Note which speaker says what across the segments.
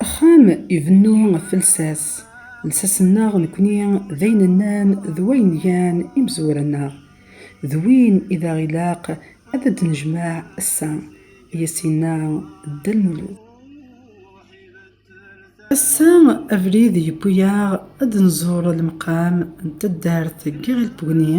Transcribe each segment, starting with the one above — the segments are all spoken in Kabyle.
Speaker 1: Axxam ibennu ɣef lsas, lsas-nneɣ nekkni d ayen nnan d wayen gan imezwura-nneɣ, d win i d aɣ ilaq ad d-nejmeɛ ass-a, i as-yenna Dda Lmulud. Ass-a abrid yewwi-aɣ ad d-nẓur lemqam n taddart n Yiɣil Bugni,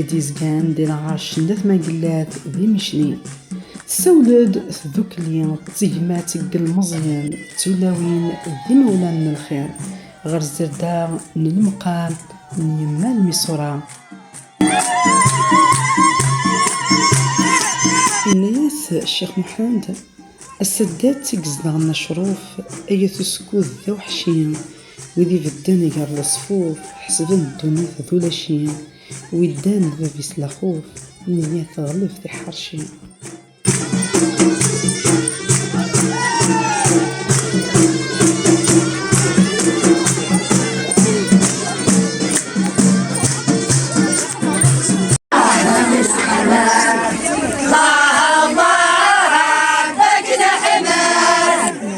Speaker 1: i d-yezgan di lɛerc n At Magellat di Micli. Tessawel-d tdukli d tegmat n yilmeẓyen d tulawin d yimawlan n lxir ɣer zzerda n lemqam n yemma Lmisura. Yenna-yas Ccix Muḥend, Ass-a d at i izedɣen acruf, ay at uskud d aweḥci. Wid ibedden gar leṣfuf, ḥesben ddunit d ulacin, wi ddan d bab-is lexuf, neyya teɣlef tiḥercin.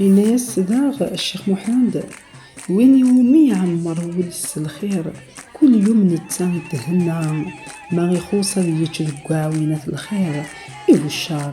Speaker 1: Yenna-yas daɣ Ccix Muḥend, Win iwumi iɛemmer wul-is s lxir, kul yum netta ithenna, ma ixuṣ ad yečč deg uɛwin at lxir, i uccer.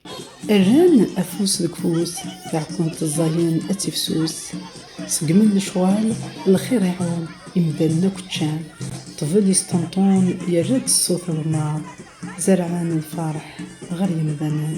Speaker 1: Rran afus deg ufus, taɛkunt ẓẓayen ad tifsus. Ṣeggmen lecɣal, lxir iɛum, imdanen akk ččan. Ṭṭbel yesṭenṭun, yerra-d ṣṣut aḍemmaɛ. Zerɛen lferḥ ɣer yemdanen.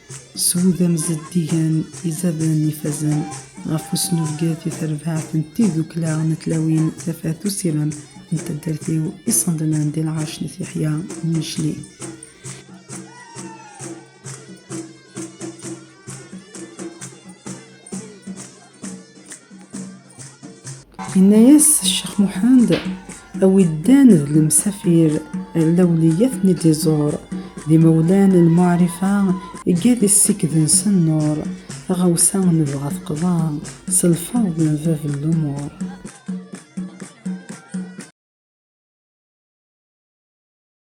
Speaker 1: Sudam zeddigen izaden ifazen ɣef usnubget i terbaɛt n tiddukla n tlawin tafat usirem n taddart-iw iṣendnen di lɛerc n Tiḥya n Yicli. Yenna-yas Ccix Muḥend, a wi ddan d lemsafir ar lawliyat n idiẓur, d imawlan n lmuɛrifa iga di ssiked-nsen nnuṛ, taɣawsa nebɣa teqḍa s lfeṛḍ n bab n lumuṛ.